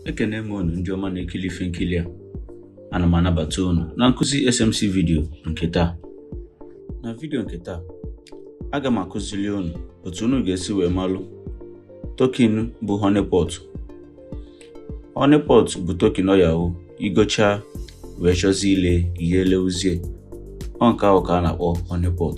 ekene m unu ndị ọma na-ekili ife nkili a ana m anabata unu na nkụzi SMC vidio nke taa na vidio nke taa aga m akụzili unu otu unu ga-esi wee malụ token bụ honeypot honeypot bụ token ọ ya-awụ i gochaa wee chọzie ile i ye-elewuzie ọ nke ahụ ka a na-akpọ honeypot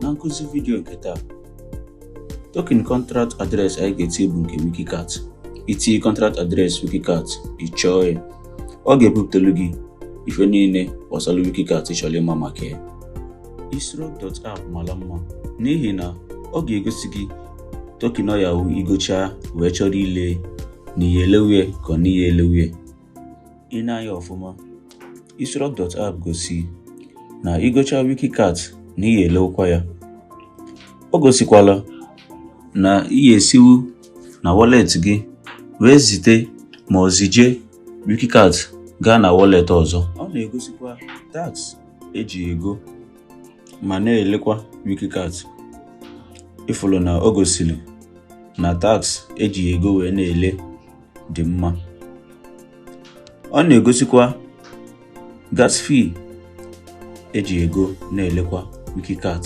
Na nkụzi vidio nke taa, token contract address anyị ga-eti bụ nke Wikicat. I tinye contract address Wikicat, ị chọọ ya, ọ ga-ebupụtelu gị ife niile gbasara Wikicat ị chọrọ ịma maka ya. Isrug.app mara mma n'ihi na ọ ga-egosi gị token ọ ya-awụ i gochaa wee chọrọ ile na i ye-elewu ye ka ọ na i ye-elewu ye ị nee anya ọfụma isrug.app gosi na i gochaa wikicat na i ye-elewukwa ya o gosikwala na i ye-esiwu na wallet gị wee zite ma ọ zije wikicat gaa na wallet ọzọ ọ na-egosikwa tax e ji ego ma na-elekwa wikicat ị fụlụ na o gosiri na tax e ji ego wee na-ele dị mma ọ na-egosikwa gas fee e ji ego na-elekwa wikicat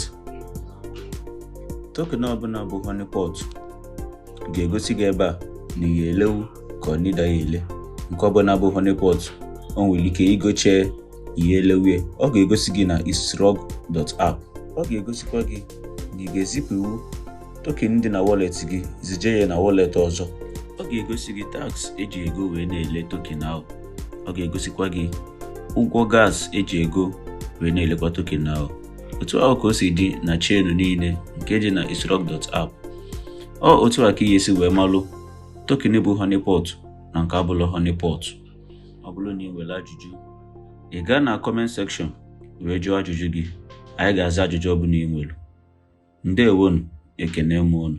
token ọbụla bụ honeypot ga-egosi gị ebe a na i ye-elewu ka ọ na ị da ya ele nke ọbụla bụ honeypot o nwere ike i gochaa i ye-elewu ye ọ ga-egosi gị na isrug.app ọ ga-egosikwa gị na ị ga-ezipụwu token dị na wallet gị zije ya na wallet ọzọ ọ ga-egosi gị tax e ji ego wee na-ele token ahụ ọ ga-egosikwa gị ụgwọ gas e ji ego wee na-elekwa token ahụ otu ahụ ka o si dị na chain niile nke dị na isrug.app ọ otu a ka i ye-esi wee malụ token bụ honeypot na nke abụlọ honeypot ọ bụrụ na ị nwere ajụjụ ị gaa na comment section wee jụọ ajụjụ gị anyị ga-aza ajụjụ ọbụla ị nwere ndewo nụ ekene m unu